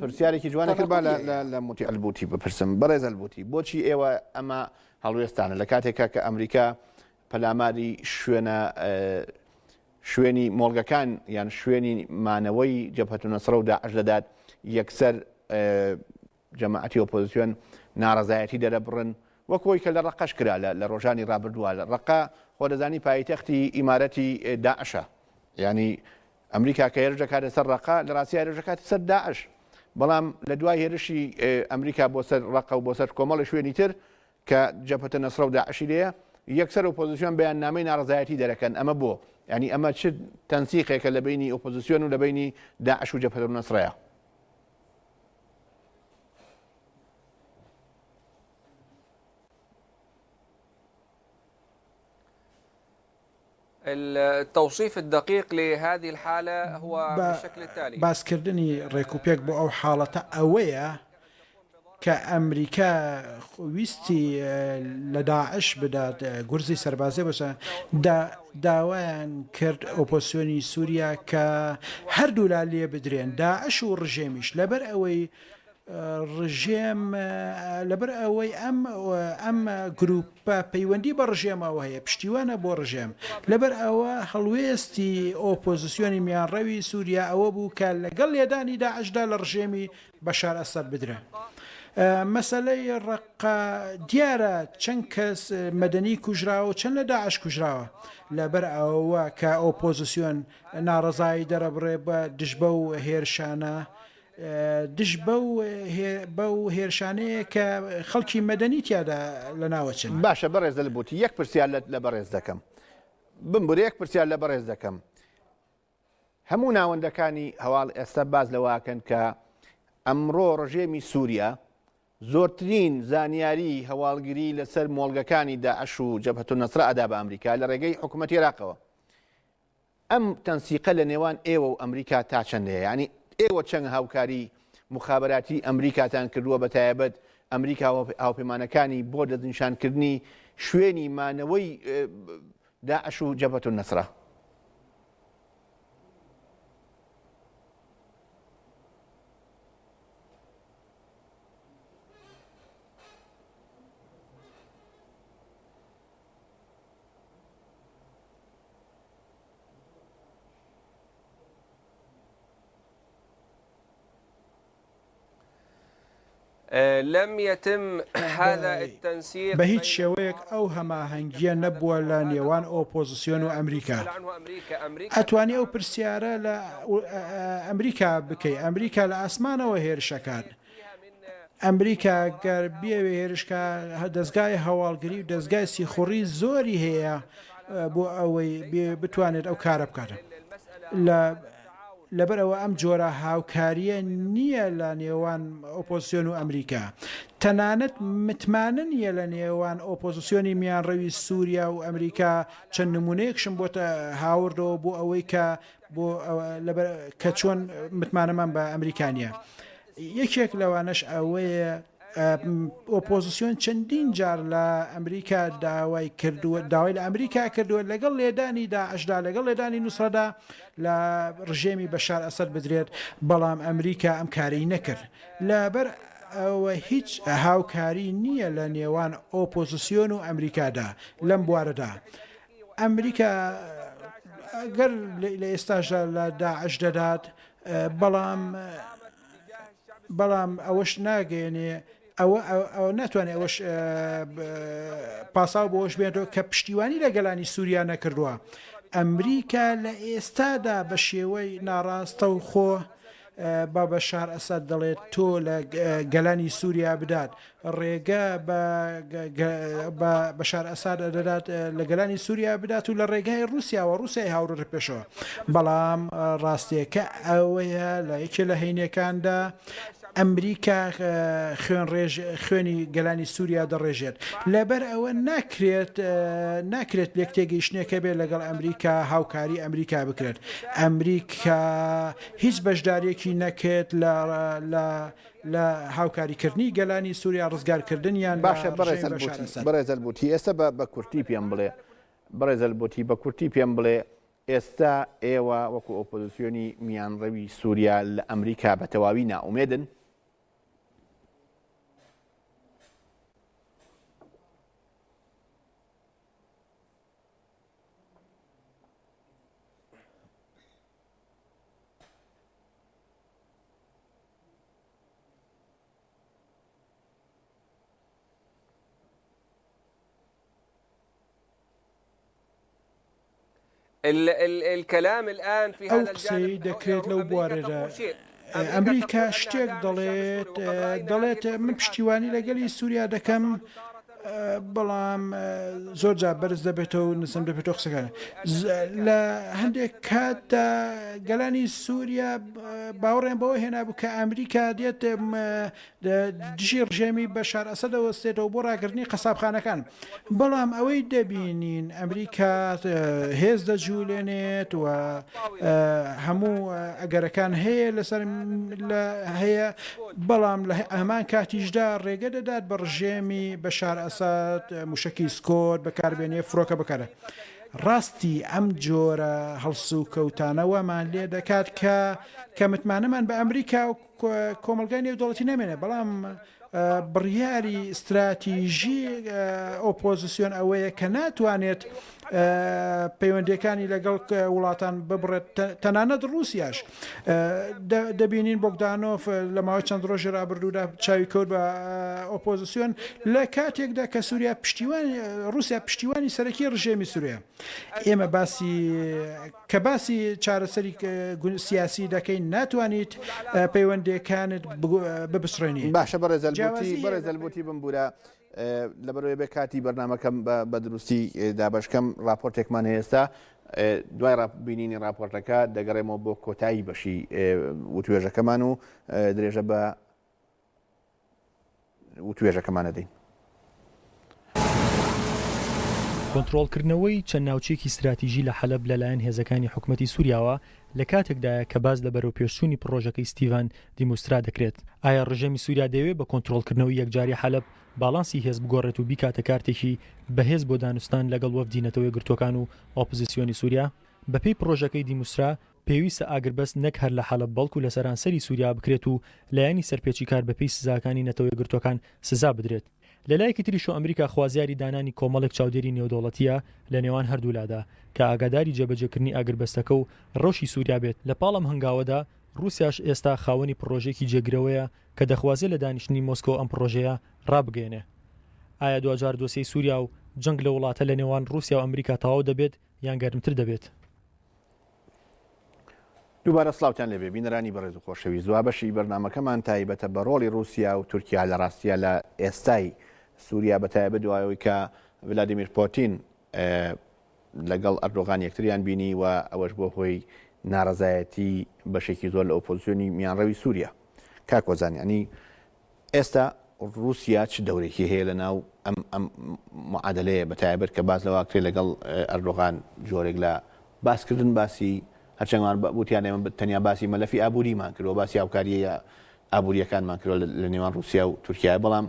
پرسیارێکی جوانە کرد با لە موتی ئەلبوتی بپرسم بەڕێز ئەلبوتی بۆچی ئێوە ئەمە هەڵوێستانە لە کاتێکە کە ئەمریکا پەلاماری شوێنە شوێنی مۆڵگەکان یان شوێنی مانەوەی جەپەتونە سڕە و داعش دەدات یەکسەر جەماعەتی ئۆپۆزیسیۆن ناڕزایەتی دەرەبڕن وەکۆی کە لە ڕقەش کرا لە ڕۆژانی ڕابردووە لە ڕقا خۆ دەزانی پایتەختی ئیمارەتی داعشە ینی ئەمریکا کە هێرش دەکاتە سەر ڕەقە لە ڕاستیدا هێرش دەکاتە سەر داعش، بەڵام لە دوای هێرشی ئەمریکا بۆ سەر ڕەقە و بۆ سەر کۆمەڵێ شوێنی تر کە جەبهەتە نەسرە و داعشی لێیە، یەکسەر ئۆپۆزیسیۆن بەیاننامەی ناڕەزایەتی دەرەکەن، ئەمە بۆ؟ یانی ئەمە چ تەنسیقێکە لە بەینی ئۆپۆزیسیۆن و لە بەینی داعش و جەبهەتە نەسرەیە؟ التوصیف الدقیق لهذه الحالە هو بالشکل التالی. باسکردنی ڕێکوپێک بۆ ئەو حاڵەتە ئەوەیە کە ئەمریکا ویستی لە داعش بدات گورزی سەربازی بۆ سەر دا داوایان کرد ئۆپۆسیۆنی سوریا کە هەردوولا لێبدرێن داعش و ڕژێمیش لەبەر ئەوەی ڕژێم لەبەر ئەوەی ئەم ئەم گروپە پەیوەندی بە ڕژێمەوە هەیە پشتیوانە بۆ ڕژێم لەبەر ئەوە هەڵوێستی ئۆپۆزیسیۆنی میانڕەوی سووریا ئەوە بوو کە لەگەڵ لێدانی داعشدا لە ڕژێمی بەشار ئەسەد بدرێن. مەسلەی ڕقا دیارە چەند کەس مەدەنی کوژراوە چەند لە داعش کوژراوە لەبەر ئەوە کە ئۆپۆزیسیۆن ناڕزایی دەرەبڕێ بە دژبە و هێرشانە دژ بەو هێرشانەیە کە خەڵکی مەدەنی تیادا لەناوەچن. باشە بەڕێز دەل بوتی یەک پرسیار لە بەڕێز دەکەم بمبورە یەک پرسیار لە بەڕێز دەکەم هەموو ناوەندەکانی هەواڵ ئێستا باز لەواکەن کە ئەمڕۆ ڕژێمی سووریا زۆرترین زانیاری هەواڵگری لەسەر مۆڵگەکانی داعش و جەبهەت و نەسرە ئەدا بە ئەمریکا لە ڕێگەی حکوومەت عێراقەوە ئەم تەنسیقە لە نێوان ئێوە و ئەمریکا تا چەند هەیە؟ یانی ئێوە چەند هاوکاری موخابەراتی ئەمریکاتان کردووە بە تایەبەت ئەمریکا و هاوپەیمانەکانی بۆ دەستنیشانکردنی شوێنی مانەوەی داعش و جەبەت نەسرە؟ بە هیچ شێوەیەک ئەو هەماهەنگیە نەبووە لە نێوان ئۆپۆزسیۆن و ئەمریکا ئەتوانی ئەو پرسیارە لە ئەمریکا بکەی ئەمریکا لە ئاسمانەوە هێرشەکات ئەمریکا گەر بیەوێ هێرشکا دەزگای هەواڵگری و دەزگای سیخوڕی زۆری هەیە بۆ ئەوەی بتوانێت ئەو کارە بکاتە لە لەبەر ئەوە ئەم جۆرە هاوکاریە نییە لە نێوان ئۆپۆسیۆن و ئەمریکا تەنانەت متمانە نیە لە نێوان ئۆپۆزیسیۆنی میانڕەوی سووریا و ئەمریکا چەند نمونەیەکشم بۆتە هاوردەوە بۆ ئەوەی کە بۆ ئەوە لەبەر کە چۆن متمانەمان بە ئەمریکا نییە. یەکێک لەوانەش ئەوەیە ئۆپۆزسیۆن چەندین جار لە ئەمریکا داوای کردووە داوای لە ئەمریکا کردووە لەگەڵ لێدانی داعشدا لەگەڵ لێدانی نووسڕەدا لە ڕژێمی بەشار ئەسەد بدرێت بەڵام ئەمریکا ئەم کارەی نەکرد لەبەر ئەوە هیچ هاوکاری نییە لە نێوان ئۆپۆزسیۆن و ئەمریکادا لەم بوارەدا ئەمریکا گەر لە ئێستاشدا لە داعش دەدات بەڵام بەڵام ئەوەش ناگەێنێ ئەوە ناتوانێت ئەوەش پاساو بۆش بێنەوە کە پشتیوانی لە گەلانی سووریا نەکردووە ئەمریکا لە ئێستادا بە شێوەی ناڕاستە و خۆ بابە شار ئەسد دەڵێت تۆ لە گەلانی سووریا بدات ڕێگە بە بە بەشار ئەساد دەدات لە گەلانی سووریا بدات و لە ڕێگای رووسیاوە رووسای هاوڕێ پێشەوە بەڵام ڕاستیەکە ئەوەیە لە یەکێ لە هەینەکاندا ئەمریکا خوێن ڕێژ خوێنی گەلانی سووریا دەڕێژێت لەبەر ئەوە ناکرێت ناکرێت لێک تێگەیشتنێکە بێت لەگەڵ ئەمریکا هاوکاری ئەمریکا بکرێت ئەمریکا هیچ بەشدارێکی نەکرێت لە لە هاوکاری کردنی گەلانی سوریا ڕزگار کردنیان لە باشە بەڕێز ڕژێمی بەشار ئەلبوتی ئەسەد. بەڕێز ئەلبوتی ئێستە بە بە کورتی پێم بڵێ بەڕێز ئەلبوتی بە کورتی پێم بڵێ ئێستە ئێوە وەکو ئۆپۆزسیۆنی میانڕەوی سوریا لە ئەمریکا بە تەواوی نائومێدن؟ ئەو قسەیەی دەکرێت لەو بوارەدا ئەمریکا شتێک دەڵێت دەڵێت من پشتیوانی لەگەلی سووریا دەکەم بەڵام زۆر جا بەرز دەبێتەوە و نزم دەبێتەوە قسەکان لە هەندێک کاتدا گەلانی سووریا باوەڕێن بەوە هێنابوو کە ئەمریکا دێت دژی ڕژێمی بە شار ئەسە دەوەستێتەوە بۆ ڕاگرنی قەسابخانەکان بەڵام ئەوەی دەبینین ئەمریکا هێز دەجوولێنێت و هەموو ئەگەرەکان هەیە لەسەر هەیە بەڵام لە هەمان کاتیشدا ڕێگە دەدات بە ڕژێمی بەشار ئەسەد موشەکی سکۆت بەکاربێنێ فرۆکە بکەرە ڕاستی ئەم جۆرە هەڵسوکەوتانە وامان لێ دەکات کە کە متمانەمان بە ئەمریکا و کۆمەلگای نێودەوڵەتی نامێنێ بەڵام بڕیاری استراتیژی ئۆپۆزیسیۆن ئەوەیە کە ناتوانێت پەیوەندیەکانی لەگەڵ وڵاتان ببڕێت تەنانەت رووسیاش دەبینین بۆگدانۆف لە ماوەی چەند ڕۆژی رابرردوودا چاوی کەوت بە ئۆپۆزیسیۆن لە کاتێکدا کە سووریا پشتیوان رووسیا پشتیوانی سەرەکی ڕژێمی سووریا ئێمە باسی کە باسی چارەسەری سیاسی دەکەین ناتوانیت پەیوەندەکانت ببسڕێنی باشە بەڕێزەلبوتی بەڕێزەلبوتی بمبورە لەبەرئەوەی بێ کاتی بەرنامەکەم بە دروستی دابەشکەم راپۆرتێکمان هێستا دوای بینینی راپۆرتەکە دەگەڕێمەوە بۆ کۆتایی بەشی وتوێژەکەمان و درێژە بە وتوێژەکەمانە دەین. کۆنترۆڵکردنەوەی چەند ناوچەیەکی ستراتیژی لە حەلەب لەلایەن هێزەکانی حکومەتی سووریاوە لە کاتێکدایە کە باس لە بەرەوپێشچوونی پڕۆژەکەی ستیڤان دیموسترا دەکرێت، ئایا ڕژێمی سوریا دەیەوێت بە کۆنترۆڵکردنەوەی یەکجاری حەلەب باڵانسی هێز بگۆڕێت و بیکاتە کارتێکی بەهێز بۆ دانوستان لەگەڵ وەفدی نەتەوەیەکگرتووەکان و ئۆپزسیۆنی سوریا؟ بەپێی پڕۆژەکەی دیموسترا، پێویستە ئاگربەست نەک هەر لە حەلەب بەڵکو لە سەرانسەری سوریا بکرێت و لایەنی سەرپێچیکار بەپێی سزاکانی نەتەوەیەکگرتووەکان سزا بدرێت. لەلایەکی تریشەوە ئەمریکا خوازیاری دانانی کۆمەڵێک چاودێری نێودەوڵەتییە لە نێوان هەردوولادا کە ئاگاداری جێبەجێکردنی ئاگربەستەکە و ڕەوشی سوریا بێت، لەپاڵ ئەم هەنگاوەدا ڕووسیاش ئێستا خاوەنی پڕۆژەیەکی جێگرەوەیە کە دەخوازێ لە دانیشتنی مۆسکۆ ئەم پڕۆژەیە ڕابگەیەنێ. ئایا دواجار دۆسێی سووریا و جەنگ لە وڵاتە لە نێوان ڕووسیا و ئەمریکا تەواو دەبێت یان گەرمتر دەبێت؟ دووبارە سڵاوتان لێبێ بینەرانی بەڕێز و خۆشەویست دوا بەشی بەرنامەکەمان تایبەتە بە ڕۆڵی ڕووسیا و تورکیا لە ڕاستیە لە ئێستای سووریا بە تایبەت دوای ئەوەی کە ڤلادیمیر پۆتین لەگەڵ ئەردۆغان یەکتریان بینی و ئەوەش بۆ هۆی نارەزایەتی بەشێکی زۆر لە ئۆپۆزیۆنی میانڕەوی سووریا کاک وەزان یعنی ئێستا رووسیا چ دەورێکی هەیە لە ناو ئەم ئەم معادلەیە بە تایبەت کە باز لەوا کرێ لەگەڵ ئەردۆغان جۆرێک لە باسکردن باسی هەرچەنگوان بوتیان ئێمە تەنیا باسی مەلەفی ئابووریمان کردەوە باسی هاوکاریە ئابووریەکانمان کردەوە لە نێوان رووسیا و تورکیا بەڵام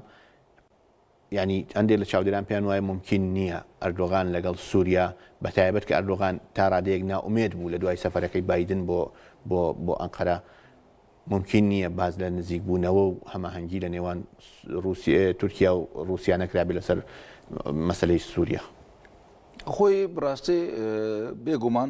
یانی هەندێک لە چاودێران پێیان وایە مومکین نییە ئەردۆغان لەگەڵ سووریا، بەتایبەت کە ئەردۆغان تا رادەیەک نائومێد بوو لەدوای سەفەرەکەی بایدن بۆ بۆ بۆ ئەنقەرە، مومکین نییە باس لە نزیکبوونەوە و هەماهەنگی لە نێوان رووسیە تورکیا و رووسیا نەکرابێت لەسەر مەسەلەی سووریا. خۆی بڕاستی بێگومان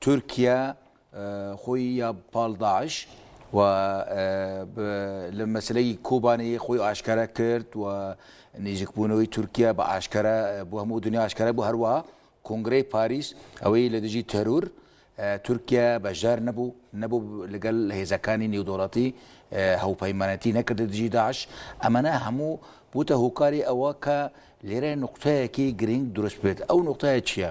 تورکیا خۆی یا پاڵ داعش و لە مەسلەی کۆبانەیە خۆی ئاشکارا کرد و نێژکبوونەوەی تورکیا بە ئاشکارا بۆ هەموو دنیا ئاشکارا بۆ هەروە کۆنگرەی پاریس ئەوەی لە دژی تەرور تورکیا بەشدار نەبوو نەبوو لەگەل هێزەکانی نێودوڵەتی هەوپەیمانەتی نەکردە دژی داعش ئەمەە هەموو بوتە هۆکاری ئەوە کە لێرە نقطەیەکی گرنگ دروست بێت ئەو نقطەیە چییە؟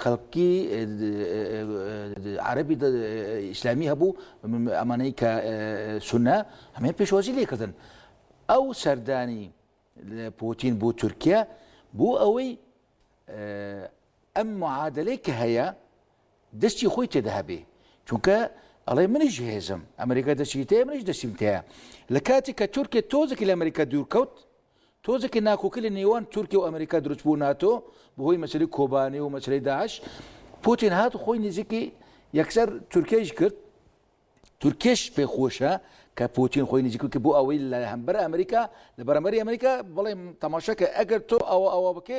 خەڵکی عەرەبی ئیسلامی هەبوو ئەمانەی کە سونە هەمێ پێشوازی لێکردن ئەو سەردانی پوتین بۆ تورکیا بۆ ئەوەی ئەم معادلەی کە هەیە دەستی خۆی تێدا هەبێ چونکە ئەڵێ منیش هێزم ئەمریکا دەچیتەیە منیش دەسیمتەیە لە کاتی کە تورکێ تۆزێکی لە ئەمریکا دوورکەوت تۆزێ کە ناکۆکی لە نێوان تورکیە و ئەمریکا دروست بوو ناتۆ بەهۆی مەسەری کۆبانی و مەسەری داعش پوتین هات خۆی نزیکی یەکسەر تورکیش کرد تورکیش پێ خۆشە کە پوتین خۆی نزیکو کە بۆ ئەوەی لە هەمبەر ئەمریکا لە بەرەمەری ئەمریکا بڵێ تەماشەکە ئەگەر تۆ ئەوە ئەوە بکێ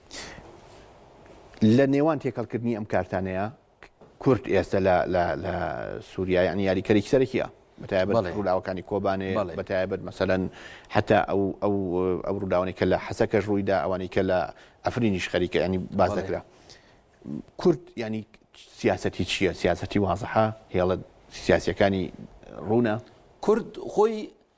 لە نێوان تێکەڵکردنی ئەم کارتانەیە کورد ئێستا لە سووریا یعنی یاریکەرێکی سەرەکیە بەتایبەت ڕووداوەکانی کۆبانێ بەتایبەت مەسەەن حتا ئەو ئەو ئەو ڕووداوانی کە لە حەسەکەش ڕوویدا ئەوانی کە لە ئەفرینیش خەریکە ینی باز دەکرا کورد ینی سیاستی چییە سیاستی وازحە هێڵە سیاسەکانی ڕوونە کورد خۆی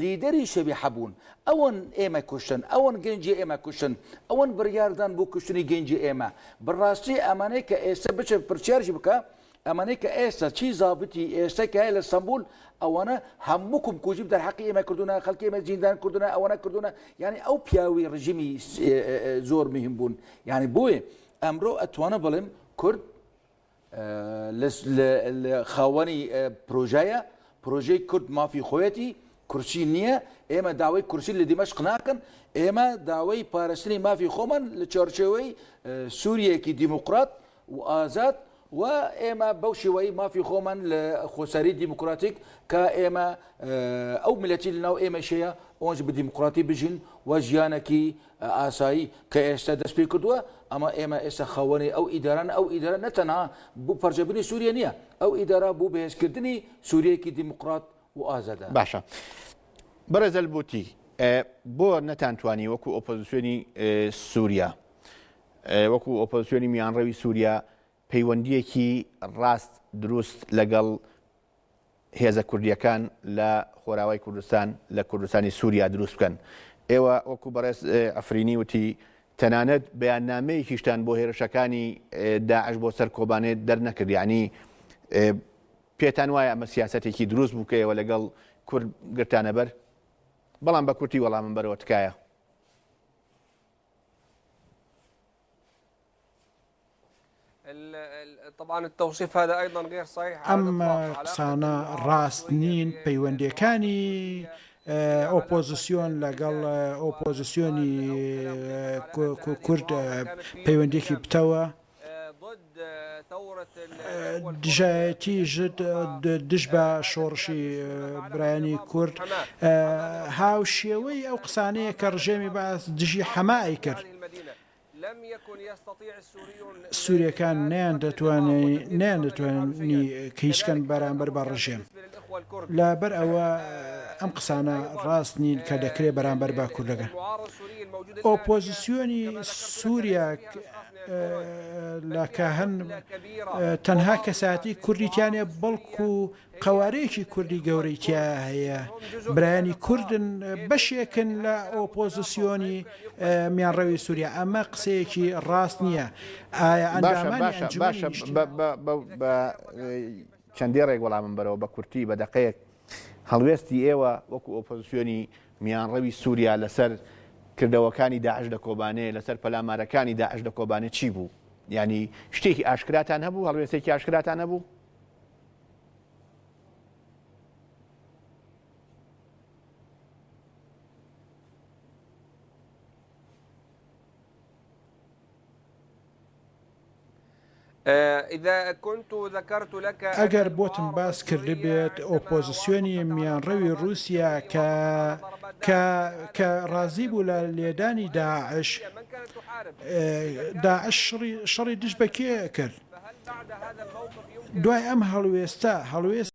لیدەری شەبیحە بوون. ئەوان ئێمە کوشتن، ئەوان گەنجی ئێمە کوشتن، ئەوان بڕیاردان بۆ کوشتنی گەنجی ئێمە. بەڕاستی ئەمانەی کە ئێستە بچە پرسیاریش بکە، ئەمانەی کە ئێستە چی زابتی ئێستە کە هەیە لە ستەنبول، ئەوانە هەموو کومکوژی دەر حەقی ئێمە کردوونە، خەڵکی ئێمە زیندان کردوونە، ئەوانە کردوونە، یانی ئەو پیاوی ڕژیمی زۆر مهم بوون. یانی بۆیە ئەمرۆ ئەتوانم بڵێم کورد، خاوەنی پرۆژەیە پرۆژەی کورد مافی خۆیەتی کورسی نییە ئێمە داوای کورسی لە دیمەشق ناکەن ئێمە داوای پارستنی مافی خۆمان لە چارچەوەی سووریەکی دیموکرات و ئازاد و ئێمە بەو شێوەی مافی خۆمان لە خۆسەری دیموکراتیک کە ئێمە ئەو ملەتی لەناو ئێمەشەیە ئۆنج بە دیموکراتی بژین و ژیانێکی ئاسایی کە ئێستا دەست پێی کردووە، ئەمە ئێمە ئێستا خاوەنی ئەو ئیدارەن، ئەو ئیدارە نە تەنها بۆ پەرژەبوونی سووریە نییە، ئەو ئیدارە بۆ بەهێزکردنی سووریەیەکی دیموکرات و ئازادە. باشە بەڕێز ئەلبوتی، بۆ نەتانتوانی وەکو ئۆپۆزیسیۆنی سووریە، وەکو ئۆپۆزیسیۆنی میانڕەوی سووریە پەیوەندییەکی ڕاست دروست لەگەڵ هێزە کوردییەکان لە خۆراوای کوردستان لە کوردستانی سووریا دروست بکەن. ئێوە وەکو بەڕێز عەفرینی وتی تەنانەت بەیاننامەیەکیشتان بۆ هێرشەکانی داعش بۆ سەر کۆبانێ دەرنەکرد یانی پێتان وایە ئەمە سیاسەتێکی دروست بوو کە ئێوە لەگەڵ کورد گرتانە بەر؟ بەڵام بە کورتی وەڵامم بەرەوە تکایە. ئەم قسانە ڕاست نین پەیوەندیەکانی ئۆپۆزیسیۆن لەگەڵ ئۆپۆزیسیۆنی کورد پەیوەندێکی پتەوە. دژایەتی ژد دژ بە شۆڕشی برایانی کورد هاوشێوەی ئەو قسانەیە کە ڕژێمی بەعس دژی حەما ئەیکرد. سوریەکان نەیان دەتوانی کەیشکەن بەرامبەر بە ڕژێم لەبەر ئەوە ئەم قسانە ڕاست نین کە دەکرێت بەرامبەر بە کوردەکان ئۆپۆزیسیۆنی سووریا لە کاهەن تەنها کەسایەتی کوردی تیا نیە بەڵکو قەوارەیەکی کوردی گەورەی تیا هەیە برایانی کوردن بەشێکن لە ئۆپۆزیسیۆنی میانڕەوی سووریا ئەمە قسەیەکی ڕاست نییە ئایا چەندێ ڕێک وەڵامم بەرەوە بە کورتی بە دەقەیەک هەڵوێستی ئێوە وەکو ئۆپۆزیسیۆنی میانڕەوی سوریا لەسەر کردەوەکانی داعش لە کۆبانێ، لەسەر پەلامارەکانی داعش لە کۆبانێ چی بوو؟ یانی شتێکی ئاشکراتان هەبوو؟ هەڵوێستێکی ئاشکراتان هەبوو؟ ئەگەر بۆتم باس کردبێت ئۆپۆزسیۆنی میانڕەوی ڕووسیا کە کە کە ڕازی بوو لە لێدانی داعش داعش شڕی شەڕی دژ بە کێ کرد دوای ئەم هەڵوێستە هەڵوێست